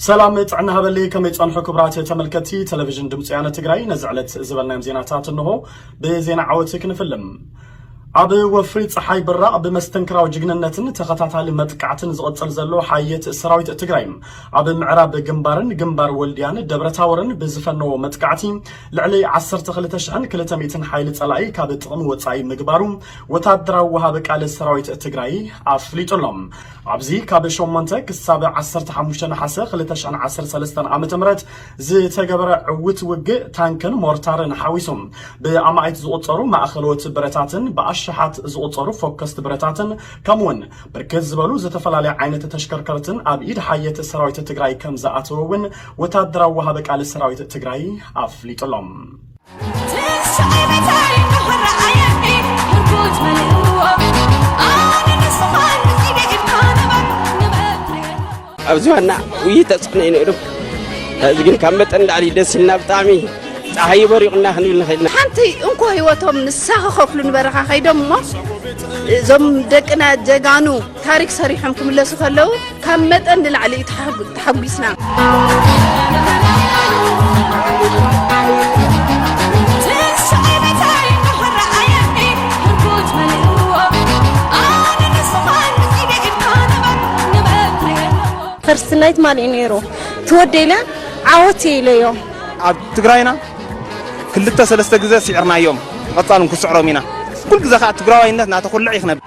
ሰላም ጥዕና ሃበልይ ከመይ ጸንሑ ክብራት ተመልከቲ ቴሌቪዥን ድምፂ ወያነ ትግራይ ነዚ ዕለት ዝበልናዮም ዜናታት እንሆ ብዜና ዓወት ክንፍልም ኣብ ወፍሪ ፀሓይ ብራቕ ብመስተንክራዊ ጅግንነትን ተኸታታሊ መጥቃዕትን ዝቕፅል ዘሎ ሓየት ሰራዊት ትግራይ ኣብ ምዕራብ ግንባርን ግንባር ወልድያን ደብረታወርን ብዝፈነዎ መጥቃዕቲ ልዕሊ 12200 ሓይሊ ፀላኢ ካብ ጥቕሚ ወፃኢ ምግባሩ ወታደራዊ ወሃቢ ቃል ሰራዊት ትግራይ ኣፍሊጡ ኣሎ። ኣብዚ ካብ ሸሞንተ ክሳብ ዓሰርተ ሓሙሽተ ነሓሰ ክልተ ሽሕን ዓሰርተ ሰለስተን ዓመተ ምህረት ዝተገበረ ዕውት ውግእ ታንክን ሞርታርን ሓዊሱ ብኣማኢት ዝቑፀሩ ማእኸሎት ብረታትን ብኣሻሓት ዝቑፀሩ ፎከስት ብረታትን ከምኡ ውን ብርክት ዝበሉ ዝተፈላለያ ዓይነት ተሽከርከርትን ኣብ ኢድ ሓየት ሰራዊት ትግራይ ከምዝኣተወ ውን ወታደራዊ ወሃቢ ቃል ሰራዊት ትግራይ ኣፍሊጡ ኣሎ። ኣብዚ ዋና ውይ ተፅዕኖ እዩ ነይሩ እዚ ግን ካብ መጠን ላዕሊ ደስ ኢልና ብጣዕሚ ፀሓይ በሪቑና ክንብል ንኽእል ኢና ሓንቲ እንኮ ህይወቶም ንሳ ክኸፍሉ ንበረኻ ከይዶም እሞ እዞም ደቅና ጀጋኑ ታሪክ ሰሪሖም ክምለሱ ከለው ካብ መጠን ንላዕሊ እዩ ተሓጒስና። ፈርስት ናይት ማን እዩ ነይሩ ትወደይለ ዓወት ኢለዮ ኣብ ትግራይና ክልተ ሰለስተ ግዘ ሲዕርናዮም ቐፃሉ ንክስዕሮም ኢና ኩሉ ግዘ ካዓ ትግራዋይነት ናተኹልዕ እዩ ክነብር።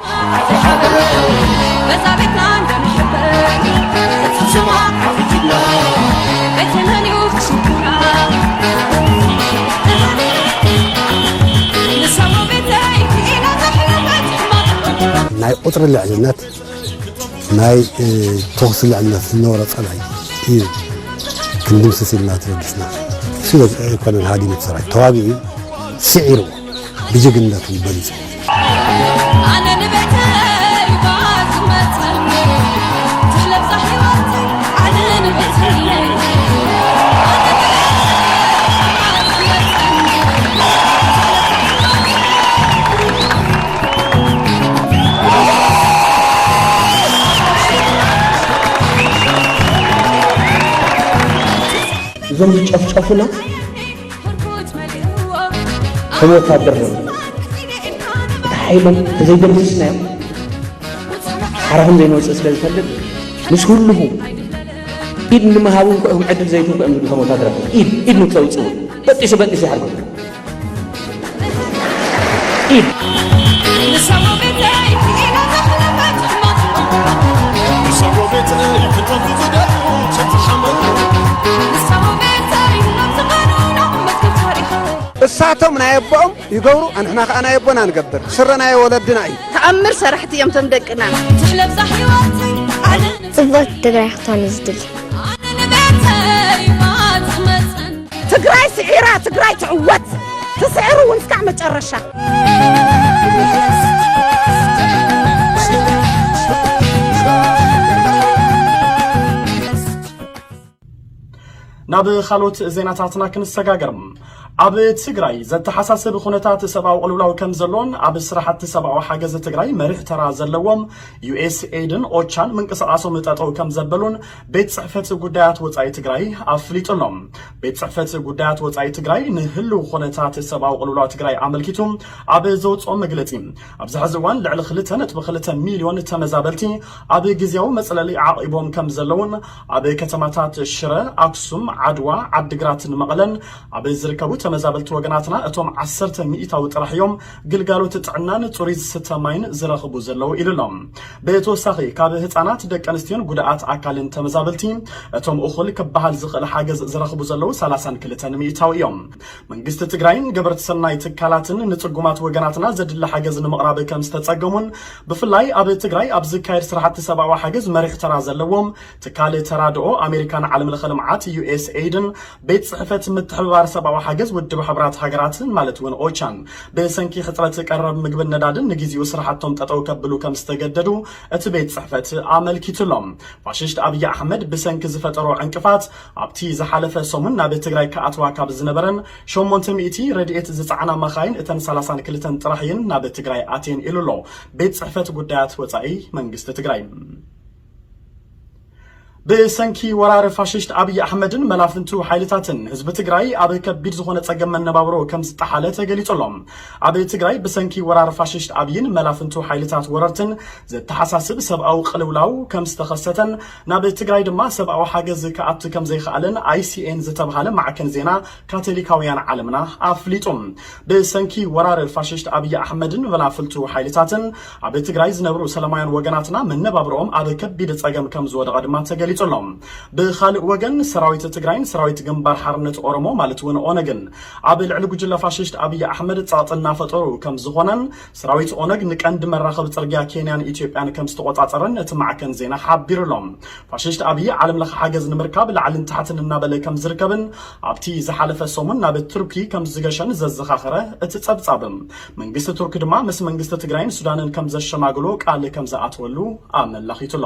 ናይ ቁፅሪ ልዕልነት ናይ ተኹሲ ልዕልነት ዝነበሮ ፀላኢ እዩ ክንድምስስ ኢልና ተበጊስና ስለ ኮሎኔል ሃዲሙ ሰራዊት ተዋጊኡ ስዒርዎ ብጅግንነቱ በሊፁ ኣነ ንቤተይ ባዝመፅእ ትለብሳ ሕይወተይ ዓድን ቤተይለይ እዞም ዝጨፍጨፉና ከም ወታደር ነው እቲ ሓይሎም ተዘይደምስስናዮም ሓራ ከም ዘይንወፅእ ስለ ዝፈልጥ ምስ ህልኹ ኢድ ንምሃብ እውን ክዕም ዕድል ዘይትንኩ እዮም ዝብሉ ከም ወታደራት ኢድ ኢድ ንክተውፅኡ በጢሱ በጢሱ ይሓርጎ እሳቶም ናይ ኣቦኦም ይገብሩ ኣንሕና ከዓ ናይ ኣቦና ንገብር ስረ ናይ ወለድና እዩ ተኣምር ሰራሕቲ እዮም ቶም ደቅና ጽብቕቲ ትግራይ ክትኮን እዩ ዝድሊ ትግራይ ስዒራ ትግራይ ትዕወት ትስዕር እውን እስካዕ መጨረሻ ናብ ካልኦት ዜናታትና ክንሰጋገር ኣብ ትግራይ ዘተሓሳስብ ኩነታት ሰብኣዊ ቅልውላው ከም ዘሎን ኣብ ስራሕቲ ሰብኣዊ ሓገዝ ትግራይ መሪሕ ተራ ዘለዎም ዩኤስኤድን ኦቻን ምንቅስቓሶም ጠጠው ከም ዘበሉን ቤት ፅሕፈት ጉዳያት ወፃኢ ትግራይ ኣፍሊጡ ኣሎ። ቤት ፅሕፈት ጉዳያት ወፃኢ ትግራይ ንህልው ኹነታት ሰብኣዊ ቅልውላው ትግራይ ኣመልኪቱ ኣብ ዘውፅኦ መግለፂ ኣብዚ ሐዚ እዋን ልዕሊ ክልተ ነጥቢ ክልተ ሚሊዮን ተመዛበልቲ ኣብ ግዝያዊ መፅለሊ ዓቒቦም ከምዘለውን ኣብ ከተማታት ሽረ፣ ኣክሱም፣ ዓድዋ፣ ዓዲግራትን መቐለን ኣብ ዝርከቡ ተመዛበልቲ ወገናትና እቶም ዓሰርተ ሚኢታዊ ጥራሕ እዮም ግልጋሎት ጥዕናን ፅሩይ ዝስተ ማይን ዝረኽቡ ዘለዉ ኢሉ ኣሎ። ብተወሳኺ ካብ ህፃናት፣ ደቂ ኣንስትዮን ጉድኣት ኣካልን ተመዛበልቲ እቶም እኹል ክበሃል ዝኽእል ሓገዝ ዝረኽቡ ዘለዉ ሰላሳን ክልተን ሚኢታዊ እዮም። መንግስቲ ትግራይን ገበርቲ ሰናይ ትካላትን ንፅጉማት ወገናትና ዘድሊ ሓገዝ ንምቕራብ ከምዝተፀገሙን ብፍላይ ኣብ ትግራይ ኣብ ዝካየድ ስራሕቲ ሰብኣዊ ሓገዝ መሪሕ ተራ ዘለዎም ትካል ተራድኦ ኣሜሪካን ዓለምለኸ ልምዓት፣ USAID፣ ን ቤት ጽሕፈት ምትሕብባር ሰብኣዊ ሓገዝ ውድብ ሕቡራት ሃገራትን ማለት እውን ኦቻን ብሰንኪ ሕጽረት ቀረብ ምግብን ነዳድን ንግዜኡ ስራሕቶም ጠጠው ከብሉ ከም ዝተገደዱ እቲ ቤት ጽሕፈት ኣመልኪቱ ኣሎ። ፋሽስት ኣብዪ ኣሕመድ ብሰንኪ ዝፈጠሮ ዕንቅፋት ኣብቲ ዝሓለፈ ሰሙን ናብ ትግራይ ክኣትዋ ካብ ዝነበረን ሸሞንተ ሚእቲ ረድኤት ዝጸዓና መኻይን እተን ሰላሳን ክልተን ጥራሕ እየን ናብ ትግራይ ኣትየን ኢሉ ኣሎ ቤት ጽሕፈት ጉዳያት ወጻኢ መንግስቲ ትግራይ። ብሰንኪ ወራር ፋሽስት ኣብይ ኣሕመድን መላፍንቱ ሓይልታትን ህዝቢ ትግራይ ኣብ ከቢድ ዝኾነ ጸገም መነባብሮ ከም ዝጠሓለ ተገሊጹ ኣሎ። ኣብ ትግራይ ብሰንኪ ወራር ፋሽስት ኣብይን መላፍንቱ ሓይልታት ወረርትን ዘተሓሳስብ ሰብኣዊ ቅልውላው ከም ዝተኸሰተን ናብ ትግራይ ድማ ሰብኣዊ ሓገዝ ክኣቱ ከም ዘይኸኣለን ኣይሲኤን ዝተብሃለ ማዕከን ዜና ካቶሊካውያን ዓለምና ኣፍሊጡ። ብሰንኪ ወራር ፋሽስት ኣብይ ኣሕመድን ቨላፍልቱ ሓይልታትን ኣብ ትግራይ ዝነብሩ ሰለማውያን ወገናትና መነባብሮኦም ኣብ ከቢድ ጸገም ከም ዝወደቐ ድማ ተገሊጹ ኣሎ። ብኻልእ ወገን ሰራዊት ትግራይን ሰራዊት ግንባር ሓርነት ኦሮሞ ማለት እውን ኦነግን ኣብ ልዕሊ ጉጅለ ፋሽስት ኣብይ ኣሕመድ ጸቕጢ እናፈጠሩ ከም ዝኾነን ሰራዊት ኦነግ ንቀንዲ መራኸቢ ጽርግያ ኬንያን ኢትዮጵያን ከም ዝተቖጻጸረን እቲ ማዕከን ዜና ሓቢሩ'ሎ። ፋሽስት ኣብይ ዓለም ለኸ ሓገዝ ንምርካብ ላዕልን ታሕትን እናበለ ከም ዝርከብን ኣብቲ ዝሓለፈ ሰሙን ናብ ቱርኪ ከም ዝገሸን ዘዘኻኸረ እቲ ጸብጻብ፣ መንግስቲ ቱርኪ ድማ ምስ መንግስቲ ትግራይን ሱዳንን ከም ዘሸማግሎ ቃል ከም ዝኣተወሉ ኣመላኺቱ'ሎ።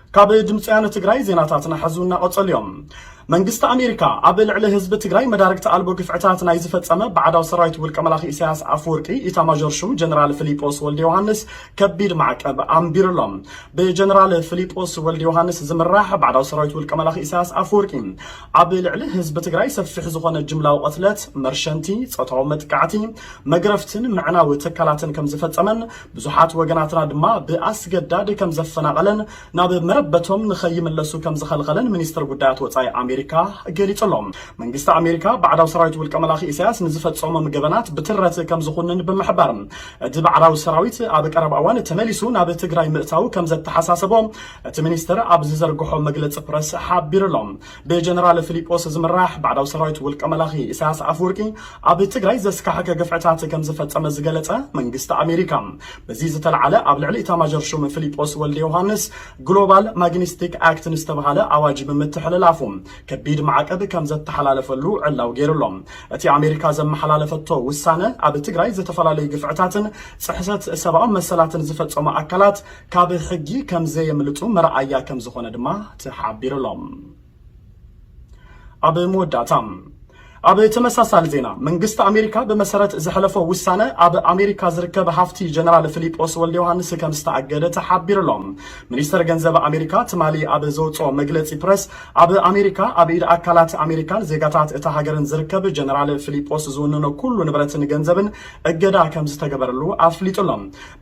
ካብ ድምፂ ወያነ ትግራይ ዜናታትና ሐዚ እናቐፀሉ እዮም። መንግስቲ ኣሜሪካ ኣብ ልዕሊ ህዝቢ ትግራይ መዳርግቲ ኣልቦ ግፍዕታት ናይ ዝፈፀመ ባዕዳዊ ሰራዊት ውልቀ መላኺ ኢሳያስ ኣፈወርቂ ኢታማዦር ሹም ጀነራል ፍሊጶስ ወልደ ዮሃንስ ከቢድ ማዕቀብ ኣንቢሩሎም። ብጀነራል ፍሊጶስ ወልደ ዮሃንስ ዝምራሕ ባዕዳዊ ሰራዊት ውልቀ መላኺ ኢሳያስ ኣፈወርቂ ኣብ ልዕሊ ህዝቢ ትግራይ ሰፊሕ ዝኾነ ጅምላዊ ቐትለት፣ መርሸንቲ፣ ፆታዊ መጥቃዕቲ፣ መግረፍትን ምዕናው ትካላትን ከምዝፈፀመን ብዙሓት ወገናትና ድማ ብኣስገዳድ ከም ዘፈናቐለን ናብ መረበቶም ንኸይምለሱ ከም ዝኸልኸለን ሚኒስተር ጉዳያት ወጻኢ ኣሜሪካ ገሊጹ ኣሎ። መንግስቲ ኣሜሪካ ባዕዳዊ ሰራዊት ውልቀ መላኺ ኢሳያስ ንዝፈጸሞም ገበናት ብትረት ከም ዝኹንን ብምሕባር እቲ ባዕዳዊ ሰራዊት ኣብ ቀረባ እዋን ተመሊሱ ናብ ትግራይ ምእታዉ ከም ዘተሓሳሰቦ እቲ ሚኒስተር ኣብ ዝዘርግሖ መግለጺ ፕረስ ሓቢሩ ኣሎ። ብጀነራል ፍሊጶስ ዝምራሕ ባዕዳዊ ሰራዊት ውልቀ መላኺ ኢሳያስ ኣፍወርቂ ኣብ ትግራይ ዘስካሕከ ግፍዕታት ከምዝፈጸመ ዝገለጸ መንግስቲ ኣሜሪካ በዚ ዝተልዓለ ኣብ ልዕሊ ኢታማዦር ሹም ፍሊጶስ ወልደ ዮሃንስ ግሎባል ማግኒስቲክ ኣክት ንዝተብሃለ ኣዋጅ ብምትሕልላፉ ከቢድ ማዕቀብ ከምዘተሓላለፈሉ ዕላው ገይሩ ኣሎ። እቲ ኣሜሪካ ዘመሓላለፈቶ ውሳነ ኣብ ትግራይ ዝተፈላለዩ ግፍዕታትን ጽሕሰት ሰብኣዊ መሰላትን ዝፈጸሙ ኣካላት ካብ ሕጊ ከም ዘየምልጡ መርኣያ ከም ዝኾነ ድማ ተሓቢሩ'ሎ። ኣብ መወዳእታ ኣብ ተመሳሳሊ ዜና መንግስቲ ኣሜሪካ ብመሰረት ዘሕለፎ ውሳነ ኣብ ኣሜሪካ ዝርከብ ሃፍቲ ጀነራል ፊሊጶስ ወልደ ዮሃንስ ከም ዝተኣገደ ተሓቢሩ'ሎ። ሚኒስተር ገንዘብ ኣሜሪካ ትማሊ ኣብ ዘውፅኦ መግለፂ ፕረስ ኣብ ኣሜሪካ ኣብ ኢድ ኣካላት ኣሜሪካን ዜጋታት እታ ሃገርን ዝርከብ ጀነራል ፊሊጶስ ዝውንኖ ኩሉ ንብረትን ገንዘብን እገዳ ከም ዝተገበረሉ ኣፍሊጡ'ሎ።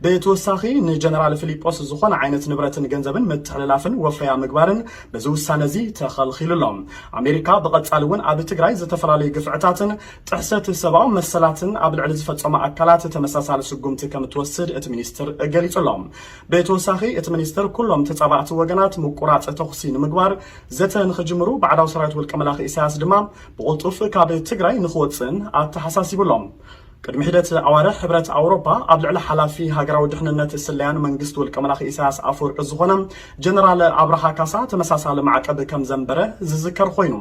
ብተወሳኺ ንጀነራል ፍሊጶስ ዝኾነ ዓይነት ንብረትን ገንዘብን ምትሕልላፍን ወፈያ ምግባርን በዚ ውሳነ እዚ ተኸልኺሉ ኣሎ። ኣሜሪካ ብቐጻሊ እውን ኣብ ትግራይ ዝተፈላለዩ ግፍዕታትን ጥሕሰት ሰብኣዊ መሰላትን ኣብ ልዕሊ ዝፈጸሙ ኣካላት ተመሳሳሊ ስጉምቲ ከም እትወስድ እቲ ሚኒስትር ገሊጹ ኣሎ። ብተወሳኺ እቲ ሚኒስትር ኩሎም ተጻባእቲ ወገናት ምቁራጽ ተኹሲ ንምግባር ዘተ ንኽጅምሩ ባዕዳዊ ሰራዊት ውልቀ መላኺ ኢሳያስ ድማ ብቕልጡፍ ካብ ትግራይ ንኽወጽእን ኣተሓሳሲቡ ኣሎ። ቅድሚ ሒደት ኣዋርሕ ሕብረት ኣውሮፓ ኣብ ልዕሊ ሓላፊ ሃገራዊ ድሕንነት ስለያን መንግስቲ ውልቀመላኺ ኢሳያስ ኣፈወርቂ ዝኾነ ጀነራል ኣብርሃ ካሳ ተመሳሳሊ ማዕቀብ ከም ዘንበረ ዝዝከር ኾይኑ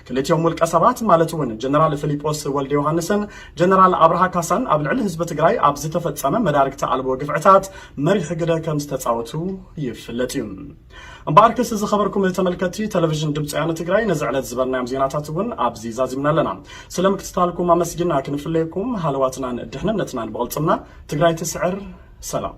ክልቲኦም ውልቀሰባት ማለት እውን ጀነራል ፍሊጶስ ወልደዮሃንስን ጀነራል ኣብርሃ ካሳን ኣብ ልዕሊ ህዝቢ ትግራይ ኣብ ዝተፈፀመ መዳርግቲ ኣልቦ ግፍዕታት መሪሕ ግደ ከም ዝተፃወቱ ይፍለጥ እዩ። እምበኣርከስ ዝኸበርኩም ተመልከትቲ ተለቪዥን ድምፂ ወያነ ትግራይ ነዚ ዕለት ዝበልናዮም ዜናታት እውን ኣብዚ ዛዚምና ኣለና። ስለ ምክትታልኩም ኣመስጊና ክንፍለየኩም ሃለዋትናን ድሕንነትናን ብቕልፅምና ትግራይ ትስዕር። ሰላም